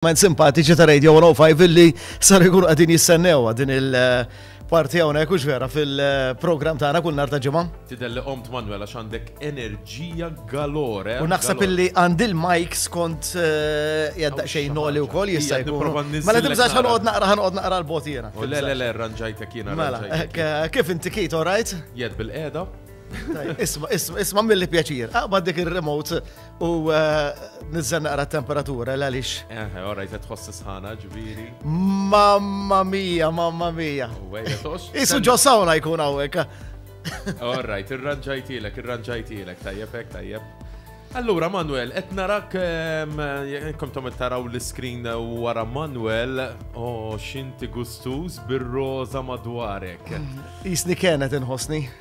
Men simpatiċi ta' Radio 105 illi sar ikun għadin jissennewa din il-parti eh, hawnhekk hux vera fil-programm tagħna kull nhar ta' ġimgħa. Tidher li qomt Manuel għax għandek enerġija galore. U naħseb illi għandi l-mic skont eh, jadda xejn noli wkoll jista' jkun. Mela tibżax ħanqod naqra ħanqod naqra l-bot jiena. Oh, le le le ranġajtek jiena. Mela, eh, kif inti kit, all right? Jed bil-qeda. Isma, isma, isma mill-li pjaċir. Aqbad dik il-remote U eh, nizzen naqra temperatura l għalix. Eh, orra jtet tħoss sħana ġviri. Mamma mia, mamma mia. Isu ġo sawna jkun għawek. Orra, tirranġajtilek, irranġajtilek, tajjeb, tajjeb. Allura Manuel, qed narak ehm, kom tom taraw l-iskrin wara Manuel, o oh, xinti gustuż bir-roża madwarek. Isni kienet inħossni.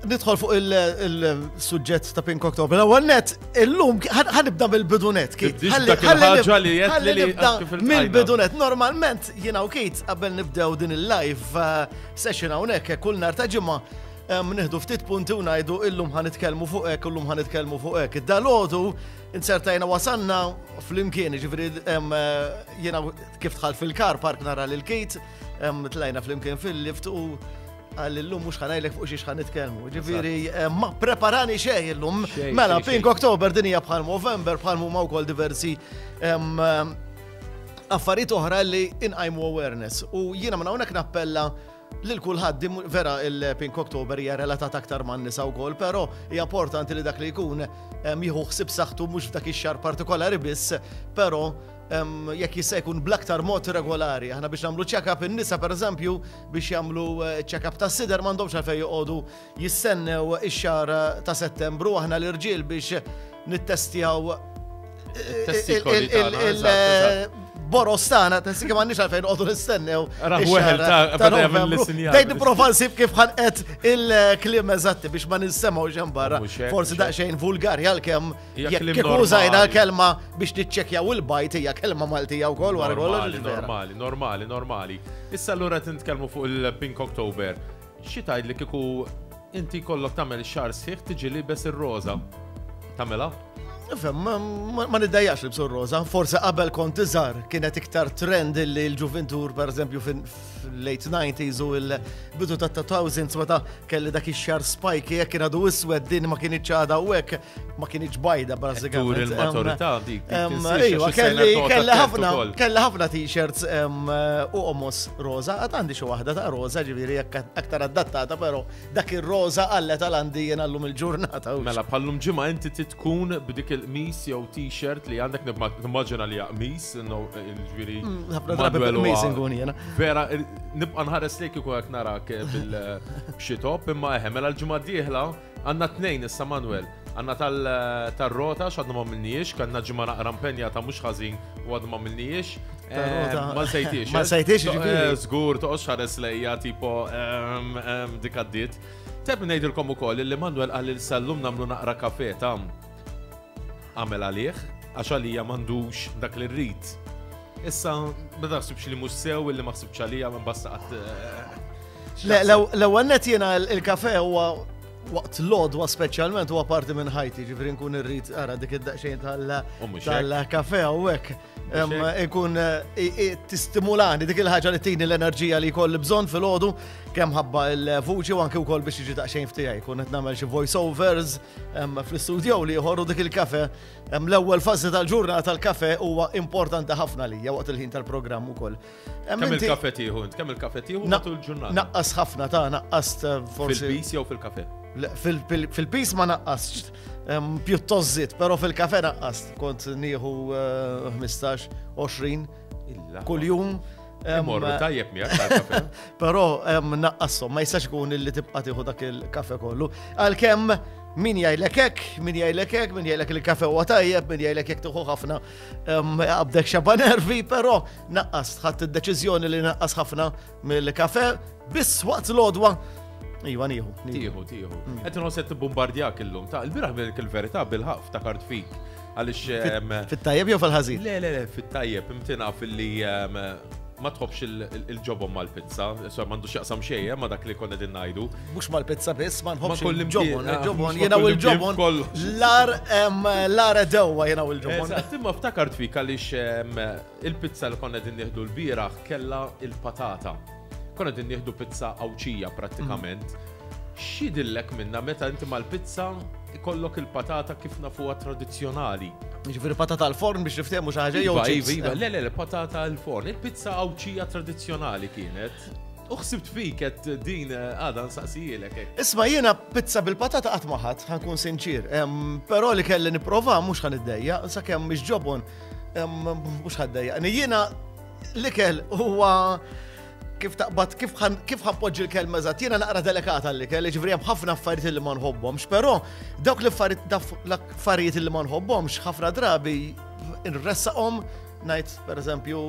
Nidħol fuq il-sujġett ta' Pink October. L-ewwel net, illum ħanibda mill-bidunet, Kit. Ħaġa li qed li nibda mill-bidunet. Normalment jiena u Kit qabel nibdew din il-live uh, session hawnhekk kull nhar ta' ġimgħa um, nieħdu ftit punti u ngħidu illum ħanitkellmu fuq hekk, illum ħanitkellmu fuq hekk. Dalodu insertajna wasanna fl-imkien, ġifieri um, uh, jiena kif tħall fil-kar park nara lil Kit, um, tlajna fl-imkien fil-lift u Għal illum mux ħanajlek fuq xiex ħan nitkelmu. Ġifiri, eh, ma preparani xej illum. Mela, Pink Oktober din hija bħal November, bħal mumma wkoll diversi affarijiet oħra li inqajmu awareness. U jiena minn hawnhekk nappella lil kulħadd vera il-Pink Oktober hija relatat aktar man nisa wkoll, però hija importanti li dak li jkun jieħu ħsib saħtu mhux f'dak ix-xar partikolari biss, però jekk jista' jkun bl-aktar mod regolari. Aħna biex nagħmlu check-up in-nisa pereżempju biex jagħmlu ċ-check-up tas-sider m'għandhomx għalfejn joqogħdu jistennew ix-xahar ta' Settembru aħna l-irġiel biex nittestjaw boros tagħna tessi kemm għandix għalfejn qogħdu nistennew. Dejn nipprova nsib kif ħanqet il-kliem eżatti biex ma ninsemgħu xejn barra. Forsi daqsxejn vulgari għalkemm Jekk kif użajna l-kelma biex niċċekjaw il-bajt hija kelma Maltija wkoll wara kollox. Normali, normali, normali. Issa allura tintkellmu fuq il-Pink October. Xi tgħid li kieku inti kollok tagħmel xar sħiħ tiġi libes ir-roża. Tagħmilha? Fem, ma niddajjax li bsur roza, forse qabel kont iżar kienet iktar trend li l-ġuventur, per eżempju, fil-late 90s u l-bidu ta' 2000 meta kelli dak ix-xar spike jekk kien għadu iswed din ma kien iċċada u hekk ma kienieċ bajda bażikament. Tur il-maturità dik. Ejwa, kelli ħafna t-shirts u omos roza, għad għandi xi waħda ta' roza ġifieri aktar adattata, però dak ir-roza għallet għal għandi jien għallum il-ġurnata. Mela bħallum ġimgħa inti titkun b'dik il-qmis jew t-shirt li għandek nimmaġina li qmis, ġifieri. Mm, ħafna drabi bil-qmis inkun jiena. Vera, nibqa' nħares lejk ikun narak bil-xitop, imma eħe, mela l-ġimgħa d-dieħla Għandna t-tnejn issa Manwel. Għandna tar-rota x'għadna m'għamilnihiex, kellna ġimgħa naqra mpenjata mhux ħażin u għadna m'għamilnihiex. Ma nsejtiex. Ma nsejtiex ġifieri. Żgur toqgħodx ħares lejja tipo dik għaddiet. Teb ngħidilkom ukoll li Manwel qal li llum nagħmlu naqra kafe ta' Agħmel għalih, għax għalija m'għandux dak li rrid. Issa, ma taħsibx li mhux sew illi ma ħsibx għalija minn basta qatt. Eh, l-ewwel net jiena il-kafe huwa waqt l-odwa speċjalment huwa parti minn ħajti, ġifri nkun irrid ara dik id-daqsxejn tal-kafe u hekk. ikun tistimulani dik il-ħaġa li tini l-enerġija li kolli bżon fil-ħodu kemm ħabba il-vuċi u anki wkoll biex jiġi daqsxejn ftijaj. Kun qed nagħmel xi voiceovers fl-istudio li jħorru dik il-kafe. L-ewwel fażi tal-ġurnata tal-kafe huwa importanti ħafna li waqt il-ħin tal-programm ukoll. Kemm il-kafe tieħu int? Kemm il-kafe tieħu matul ġurnata? Naqqas ħafna ta' naqqas eh, forsi. Fil-pis jew fil-kafe? Fil-pis ma naqqas pjuttost zit, però fil-kafe naqqas kont nieħu 15-20 eh, kull-jum. Morru tajjeb miegħek. Però naqqassom, ma jistax ikun illi tibqa' tieħu dak il-kafe kollu. Għalkemm min jgħidlek hekk, min jgħidlek hekk, min jgħidlek il-kafe huwa tajjeb, min jgħidlek jekk tuħu ħafna qabdek xaba nervi, però Naqqast, ħadd id-deċiżjoni li naqqas ħafna mill-kafe biss waqt l-odwa Iva, nieħu. Tieħu, tieħu. Mm. Qed inħoss qed tibbombardjak illum. Ta' il-biraħ il-verità bil-ħaf ta' kart fik. Għaliex. Ehm, fit-tajjeb jew fil-ħażin? Le, le, le, fit-tajjeb imtina fil-li ehm, ma tħobx il-ġobom mal-pizza, so mandu xaqsam xejja eh, ma dak li konna din najdu. Mux mal-pizza biss, ma nħobx il-ġobon, ah, il-ġobon, jena u il-ġobon. L-ar, l-ar edewa jena u il-ġobon. Timma ftakart fik għalix Il-pizza li konna qegħdin nieħdu lbieraħ kellha l-patata. Konna qegħdin nieħdu pizza Għawdxija prattikament. X'jidhillek minnha meta inti mal-pizza ikollok il-patata kif nafuha tradizzjonali? Ġifieri patata għal forn biex niftehmu xi ħaġa jew iva, iva, iva, le le patata għal forn. Il-pizza Għawdxija tradizzjonali kienet. Uħsibt fik qed din eh, għadha nsaqsijilek. Eh. Isma' jiena pizza bil-patata qatt ma ħadd, ħankun sinċir. Però li kelli nipprova mhux ħan iddejja, sakemm mhix ġobon Mhux ħaddejjaqni. Jiena l-ikel huwa kif taqbad, kif ħanpoġġi l-kelma eżatt, jiena naqra delikata l-ikel, ġifri hemm ħafna affarijiet li ma nħobbhomx, però dawk l-affarijiet li ma nħobbhomx ħafna drabi nressaqhom ngħid pereżempju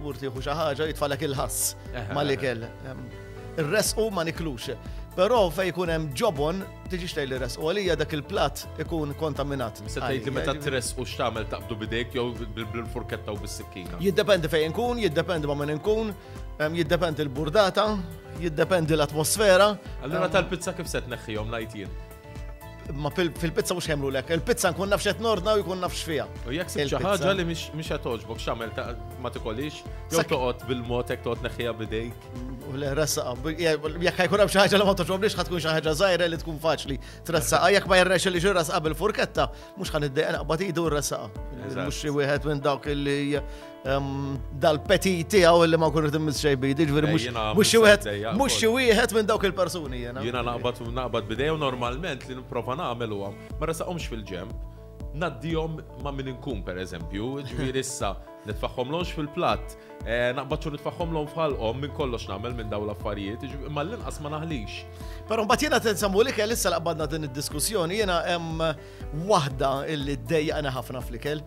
urtieħu xi ħaġa jitfalek il-ħass mal-ikel. Irresqu ma niklux. Però fejn jkun hemm ġobon Tiġix tgħid li resqu għalija dak il-platt ikun kontaminat. Se tgħid li meta tresqu x'tagħmel taqbdu bidejk jew bil-furketta u bis-sikkina. Jiddependi fejn inkun, jiddependi ma' min inkun, jiddependi l-burdata, jiddependi l-atmosfera. Allura tal-pizza kif se tneħħihom ngħid jien? Ma fil-pizza mhux ħemlu lek, il-pizza nkun nafx qed nordna u jkun nafx fiha. U jekk se xi ħaġa li mhix qed toġbok x'għamel ma tikolix, jew toqgħod bil-mod hekk toqgħod neħħiha bidejk. U le ressaqa, jekk ħajkun hemm xi ħaġa li ma toġobniex ħatkun xi ħaġa żgħira li tkun faċli tressaqa, jekk ma jirrex li ġirra saqa bil-furketta, mhux ħan id naqbad idu ressaqa. Mhux xi wieħed minn dawk li ehm, dal-petit tiegħu li ma kun qed immiss xejn bidi, ġifieri mhux xi wieħed mhux xi wieħed minn dawk il-persuni jiena. Jiena naqbad naqbad bidejja normalment li nipprova nagħmel huwa ma ressaqhomx fil-ġemp. Naddihom ma' min inkun pereżempju, ġifieri issa nitfaħħomlhomx fil-platt Eh, naqbad xogħol nitfaħħom l-om f'ħalqhom minn kollox nagħmel minn dawn l-affarijiet, imma l-inqas ma naħlix. Però mbagħad jiena tinsamu li kell issa laqbadna din id-diskussjoni jiena hemm waħda illi ddejjaqna ħafna fl-ikel.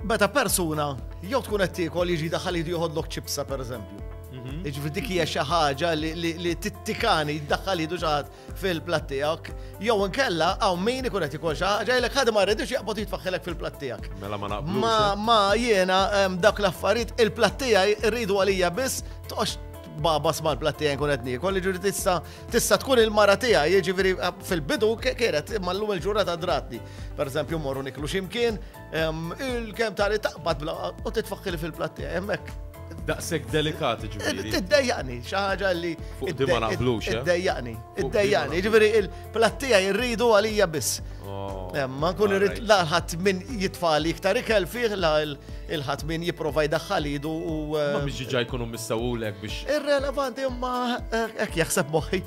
Meta persuna jew tkun qed tiekol jiġi daħal jidu joħodlok ċipsa pereżempju. Mhm. Iġifieri dik hija xi ħaġa li tittikani jiddaħħal jidu xi ħadd fil-platt tiegħek, jew inkella hawn min ikun qed ikun xi ħaġa jgħidlek ħadd ma rridux jaqbad jitfaħħilek fil-platt tiegħek. Mela ma naqblux. Ma eh? ma jiena dak l-affarijiet il-platt tiegħi rridu għalija biss toqgħodx baba sma l-platt tiegħi nkun qed niekol, jiġri tista' tista' tkun il-mara tiegħi, jiġifieri fil-bidu kienet imma llum il-ġurnata dratni. Pereżempju morru niklu x'imkien, Il-kem tari taqbad bla u titfakkili fil-platti hemmhekk. Daqshekk delikati ġifieri. Eh, tiddejjaqni, xi ħaġa li. Fuq di ma naqblux. Eh? Iddejjaqni, iddejjaqni, ġifieri il-plattija jirridu għalija biss. Oh, eh, ma nkun irrid laħat minn jitfali iktar ikel fih la il-ħadd min jipprova jdaħħal idu u. Ma biex ġiġa jkunu missawulek biex. Irrelevanti imma hekk jaħseb moħħi.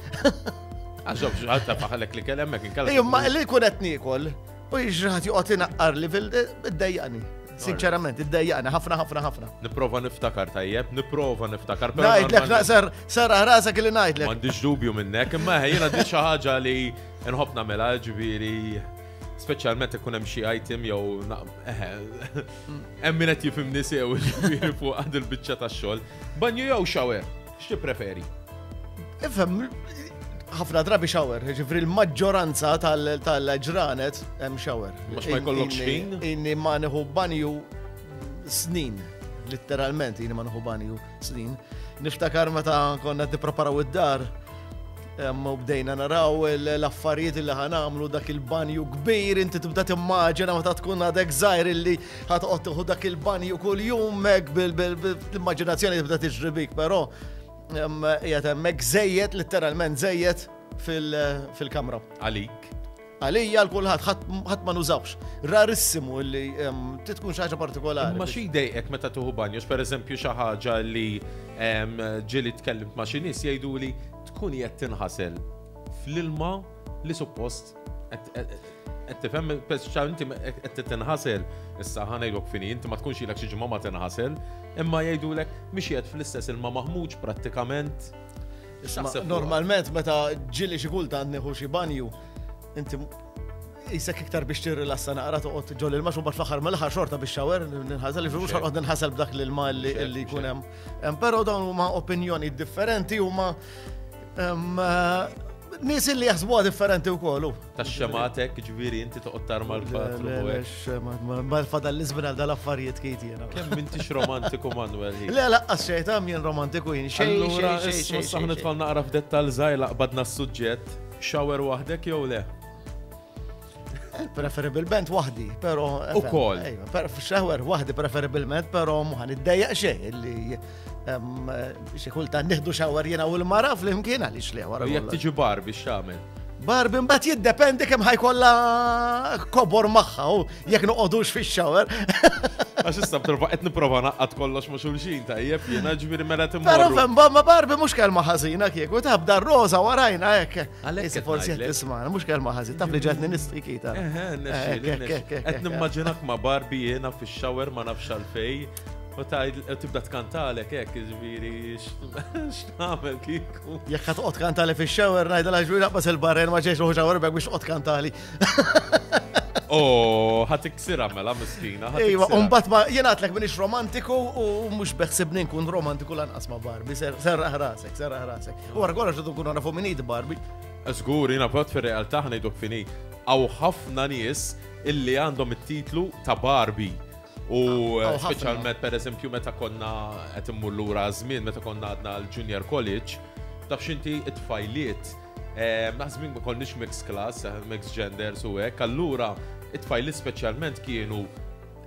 Għaxob xaħta faħalek li kellemmek inkalla. Imma li kunet nikol. U jġraħat joqgħod inaqqar li fil-dejjaqni. Sinċerament, id-dejjaqni, ħafna, ħafna, ħafna. Niprofa niftakar tajjeb, niprofa niftakar. Najdlek, naqsar, sar ħrasa kelli najdlek. Mandiġ dubju minnek, imma ħajjena di ħaġa li nħobb namela ġviri speċjalment ikun hemm xi item jew eh, hemm min qed jifhimni sew fuq għad il-biċċa tax-xogħol. Banju jew xawer? X'tippreferi? Ifhem, ħafna drabi shower, ġifri l-maġġoranza tal-ġranet hemm shower. Mux ma jkollok xħin? Inni ma nħu banju snin, literalment inni ma nħu banju snin. Niftakar meta konna t-preparaw id-dar, Hemm bdejna naraw l-affarijiet li ħan għamlu dak il-banju kbir, inti tibda timmaġina meta tkun għadek żgħir illi ħatqgħod tieħu dak il-banju kuljum hekk bil-immaġinazzjoni tibda tiġri bik, però qiegħed hemmhekk żejjed, letteralment żejjed fil-kamra. Għalik. Għalija għal kulħadd ħadd ma nużawx. Rarissimu li titkun xi ħaġa partikolari. Ma xi jdejqek meta tuħu banju, pereżempju xi ħaġa li ġieli tkellimt ma' xi nies jgħidu li tkun qed tinħasel fl-ilma li suppost qed tifhem speċjal inti qed tinħasel issa ħanejlok fini inti ma tkunx ilek xi ġimgħa ma tinħasel, imma jgħidulek mixjed fl-istess ilma maħmuġ prattikament. Normalment meta ġili xi kultant nieħu xi banju, inti jisek iktar biex tirrilassa naqra toqgħod ġol il max u bat fl-aħħar mill-aħħar xorta biex xawer ninħasel li mhux ħolqod ninħasel b'dak l ilma li jkun hemm. Però dawn huma opinjoni differenti huma nies li jaħsbuha differenti wkoll. Ta' xematek, ġviri, inti toqgħod tarma l-patru. Ma fadal l-izmin għal dal-affarijiet kejt jena. Kemm mintix romantiku Manuel. Le, laqqas xejn ta' minn romantiku jien xejn. Allura, issa nitfall naqra f'dettal żgħir laqbadna s-suġġett. Shower waħdek jew le? Eh, preferibilment waħdi, pero. U kol. Shower waħdi preferibilment, pero muħan id-dajja xejn li Xi kultant nieħdu xawar jiena u l-mara flimkien għaliex li wara. Jekk tiġi bar biex tagħmel. Bar bin bat jiddependi kemm ħajkolla kobor magħha u jekk noqogħdux fix-xawar. Għax issa b'terba qed nipprova naqqat kollox ma' xulxin tajjeb jiena ġifieri mela timma. Però fem ma barbi mhux kelma ħażina kieku tabda roża warajna hekk. Għalhekk forsi qed tisma' mhux kelma ħażin taf li ġatni nistikita. Qed nimmaġinak ma' barbi jiena fix-xawer ma nafx għalfej. U tibda tkantalek hekk, ġviri, x'tagħmel kiku. Jekk qed toqgħod kantali fix-shower ngħidha la ġviri naqbas il-barren ma ġejx ruħu shower bek biex toqgħod kantali. Oh, ħat iksira mela miskina. Ejwa, mbagħad ma jingħatlek minix romantiku u mhux beħsibni nkun romantiku lanqas ma' Barbi, serraħ rasek, serraħ rasek. U wara kollox qed nkun nafu minid Barbi. Żgur, jiena prot fir-realtà ħnejdok fini. Aw ħafna nies illi għandhom it-titlu ta' Barbi U ah, oh, speċjalment per eżempju meta konna qed immur lura żmien meta konna għadna l-junior college, taf xinti it-tfajliet eh, naħsbin ma konniex mix class, eh, mix gender su hekk, allura it-tfajliet speċjalment kienu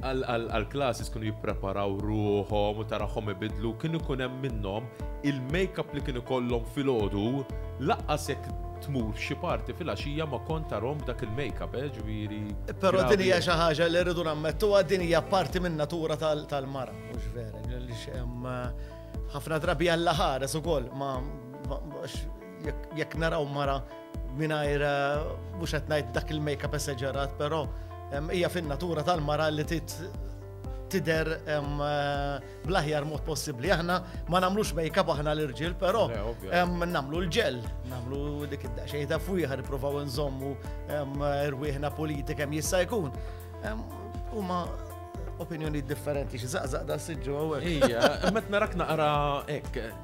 għal-klasses kienu jippreparaw ruħom u taraħom ibidlu, kienu kunem minnom il-makeup li kienu kollom fil-ħodu, laqqas jek tmur f'xi party filgħaxija ma kont tarhom b'dak il-makeup eh ġifieri. Però din hija xi ħaġa li rridu nammettuha din hija parti min-natura tal-mara mhux vera għaliex hemm ħafna drabi Alla ħares ukoll ma jekk naraw mara mingħajr mhux qed ngħid dak il-makeup esaġerat però hija fin-natura tal-mara li tidher bl-aħjar mod possibbli. Aħna ma nagħmlux make-up aħna l-irġiel, però nagħmlu l-ġel, nagħmlu dik id-daqsxejn ta' fwieħa nippruvaw nżommu rwieħna politika kemm jista' jkun. Huma opinjoni differenti xi zaqzaq da siġġu għawek. Ija, met narak naqra hekk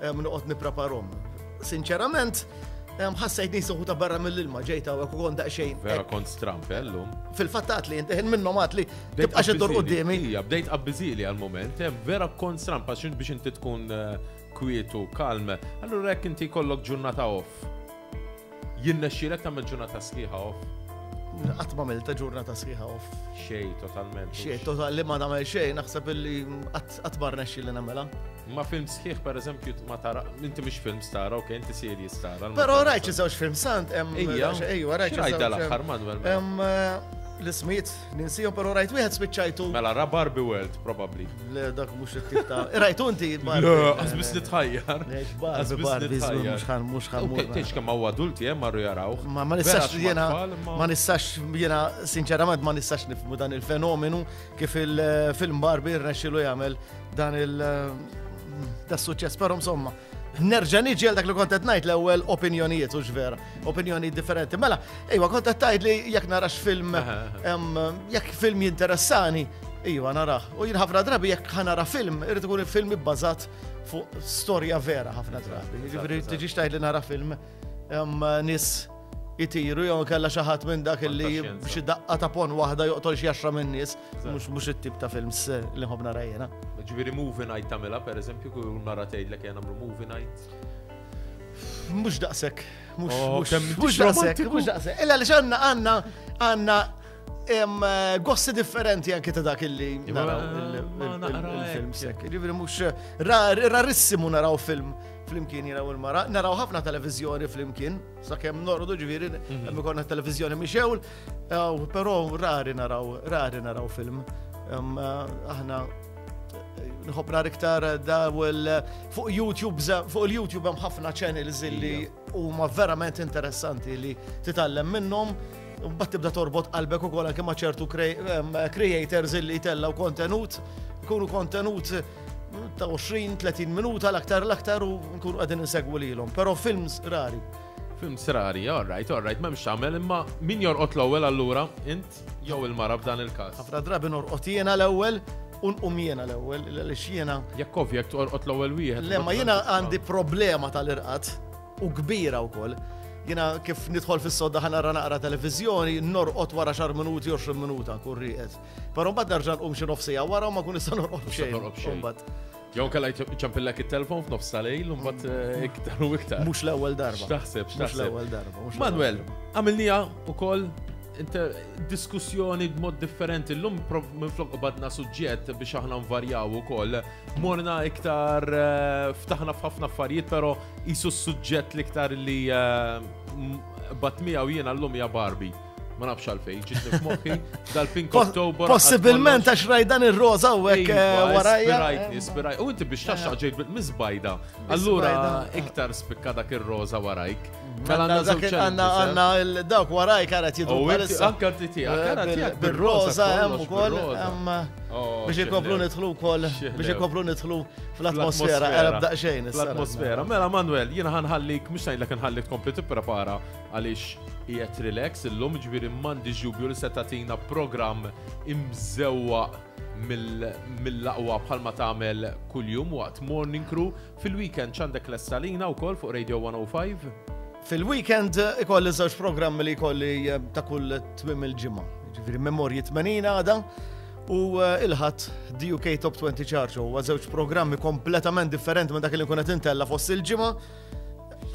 Noqgħod nippreparhom. Sinċerament, ħassajt nisu ta' barra mill-ilma ġejta u kont daqsxejn. Vera kont strampellum. Fil-fattat li jintiħin minnom għat li tibqax id-dur qoddimi. Ija, bdejt qabbizili għal-moment, vera kont strampa xin biex inti tkun eh, kwietu, kalm. Allura jekk inti kollok ġurnata off. Jirnexxielek tagħmel ġurnata sħiħa off? Qatt m'għamilta ġurnata sħiħa off. Xejn totalment. Xejn total li ma nagħmel xejn naħseb illi qatt ma rnexxi li nagħmelha. Ma film sħiħ per eżempju ma tara, inti mhux film stara, ok, inti serji stara. Però rajt xi żewġ film sant hemm. Ejja, ejja, rajt. Rajt l-aħħar Manuel. Mela. L-ismijiet Ninsihom pero rajt wieħed spiċċajtu. Mela ra Barbie World probably. Le dak mhux it-tip ta' rajtu inti Barbie. Le, qasbis li tħajjar. Qasbis li tħajjar. Mhux ħan mhux ħan. Tgħix kemm hawn adulti hemm eh, marru jaraw. Ma ma nistax jiena ma nistax jiena sinċerament ma nistax nifmu dan il-fenomenu kif il-film eh, Barbie rnexxilu jagħmel dan il- eh, tas suċċess però insomma. Nerġa' niġi għal dak li kont qed ngħid l-ewwel opinjonijiet u x'vera, opinjoni differenti. Mela, ejwa kont qed tgħid li jekk narax film jekk film jinteressani, ejwa naraħ. U jien ħafna drabi jekk ħanara film, irid ikun film ibbażat fuq storja vera ħafna drabi. Jiġifieri tiġix tgħid li nara film nis jitiru jew kella xi ħadd minn dak li xi daqqa ta' pon waħda joqtol xi għaxra minn nies. Mux mux it-tip ta' films eh, li nħobna rajjena. Ġviri movie night tamela, per eżempju, kull mara tgħid li kien għamlu movie night. Mux daqsek. Mux oh, daqsek. Mux daqsek. Illa li xanna għanna għanna eh, gossi differenti anke ta' dak illi naraw il-film sekk. Ġviri mux rarissimu naraw film flimkien jina u l-mara, naraw ħafna televizjoni flimkien, sa' kem nordu ġviri, mhm. għemmi konna televizjoni miexewl, Però rari naraw, rari naraw film. Aħna nħobb nar iktar dawel fuq YouTube, fuq il-YouTube hemm ħafna channels li huma verament interessanti li titgħallem minnhom. Mbagħad tibda torbot qalbek ukoll anke ma' ċertu creators illi jtellgħu kontenut, ikunu kontenut ta' 20-30 minuta l-aktar l-aktar u nkunu qegħdin insegwu lilhom. Però films rari. Film srari, all right, all right, m'hemmx tagħmel, imma min jorqod l-ewwel allura int jew il-mara f'dan il-każ. Ħafna drabi norqod jiena l-ewwel u nqum jiena l-ewwel għaliex jiena. Jekk ovvja jekk torqod l-ewwel wieħed. Le ma jiena għandi problema tal-irqad u kbira wkoll jina kif nidħol fis-sodda ħana ra naqra televizjoni, norqot wara xar minuti, 20 minuta, kurriqet. Pero mbagħad nerġa' nqum xi nofsija wara u ma kun nista' norqot xejn. Jew kalla jċampillek il-telfon f'nofs tal-lejl, un bat eh, iktar u iktar. Mux l-ewel darba. Xtaħseb, xtaħseb. Mux l-ewel darba. Manuel, għamilnija u koll diskussjoni b'mod differenti. L-lum minn flok badna suġġett biex aħna nvarjaw u koll. Morna iktar eh, ftaħna f'ħafna affarijiet, pero jisu suġġett li iktar li eh, bat miegħu jiena l-lum ja Barbie. Ma nafx għalfej, ġitni f'moħħi, dal-Pink October. Possibilment għax rajdan ir-roza u għek eh, warajja. Ispirajtni, ispirajt. U inti biex taxxa ġejt bil-mizbajda. Allura iktar spikka dak ir-roza warajk. Mela għanna għanna dawk warajk għaret jidu. Anka ti ti, għaret eh, bil-roza hemm ukoll. Oh, biex ikoplu nidħlu wkoll, biex ikoplu nidħlu fl-atmosfera, għarab daqxejn. Fl-atmosfera. Mela Manuel, jiena ħanħallik, mhux ngħidlek nħallik kompli tipprepara għaliex qiegħed relax illum, ġifieri m'għandix dubju li se tagħtina programm imżewwaq mill-aqwa bħalma tagħmel kuljum waqt Morning Crew. Fil-weekend x'għandek lesta lina wkoll fuq Radio 105? Fil-weekend ikolli żewġ programmi li jkolli eh, ta' kull twim il-ġimgħa. Ġifieri memorji 80 għada u eh, il-ħadd DUK Top 20 Charge huwa żewġ programmi kompletament differenti minn dak li nkun qed intella fost il-ġimgħa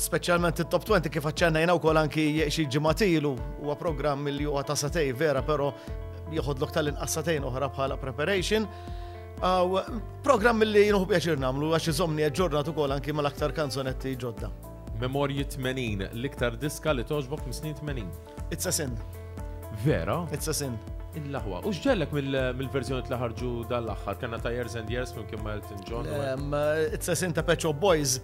Speċjalment it-Top 20 kif aċċennajna wkoll anki xi ġimatilu huwa programm li huwa ta' satej vera però joħodlok tal-inqas satejn oħra bħala preparation. Aw programm li jinħu pjaċir nagħmlu għax iżomni aġġornat ukoll anki mal-aktar kanzonetti ġodda. Memorji 80, l-iktar diska li toġbok mis-snin 80. It's a sin. Vera? It's a sin. Il-laħwa. U xġellek mill-verżjoni li ħarġu dal-axħar, kena ta' Years and Years minn kim Elton John. It's a sin ta' Pet Shop Boys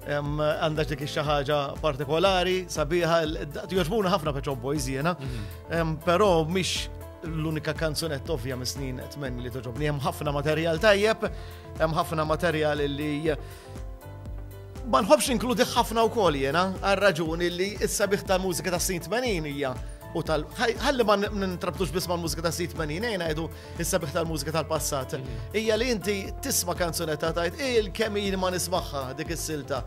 għandha dik xi ħaġa partikolari, sabiħa, jogħġbuna ħafna Pet Shop Boys jiena, mhm. però mhix l-unika kanzunetta ovvja mis snin etmen li toġobni. Hemm ħafna materjal tajjeb, hemm ħafna materjal li Ma nħobbx ninkludih ħafna wkoll jiena, għar-raġuni li s-sabiħ tal-mużika tas-snin 80 hija u tal ħalli ma nintrabtux biss mal-mużika ta' sit menin ejn għajdu is-sabiħ tal-mużika tal-passat. Hija li inti tisma' kanzunetta tajt il kemm jien ma nismaħħa dik is-silta.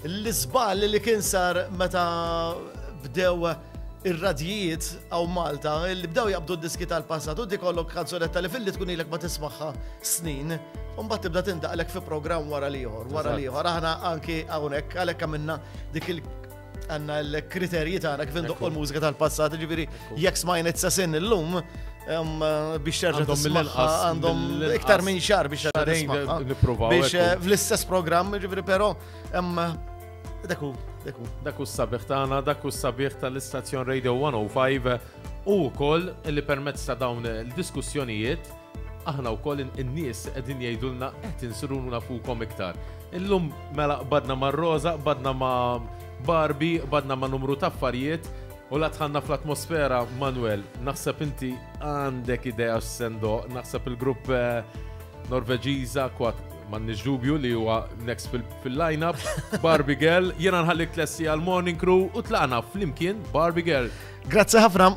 L-iżball li kien sar meta bdew ir-radjijiet għaw Malta li bdew jaqbdu d-diski tal-passat u dikollok kanzonetta li fil-li tkun ilek ma tismaħħa snin. Umbat tibda tindaqlek fi program wara liħor, wara liħor. Aħna anki għawnek, għalek għamilna dik il għanna l-kriterji ta' għana kif ndoqqu l-mużika tal-passat, ġifiri, jek smajn it-sasin l-lum, biex terġa' tismaħħa għandhom iktar minn xar biex terġa' tismaħħa. Biex eh, fl-istess program, ġifiri, pero Daku, daku. Daku s-sabiħ tagħna, daku s-sabiħ tal-istazzjon Radio 105 u wkoll li permezz ta' dawn il-diskussjonijiet aħna wkoll in-nies qegħdin jgħidulna qed insirunu nafukom iktar. Illum mela badna ma' Rosa, badna ma' Barbie, badna ma' numru ta' affarijiet u la tħanna fl-atmosfera Manuel, naħseb inti għandek idea x'sendo, naħseb il-grupp eh, Norveġiża kwat M'għandniex dubju li huwa next fil-lineup, Barbie Girl, jiena nħallik tlessi għal Morning Crew u tlaqna flimkien Barbie Girl. Grazzi ħafna.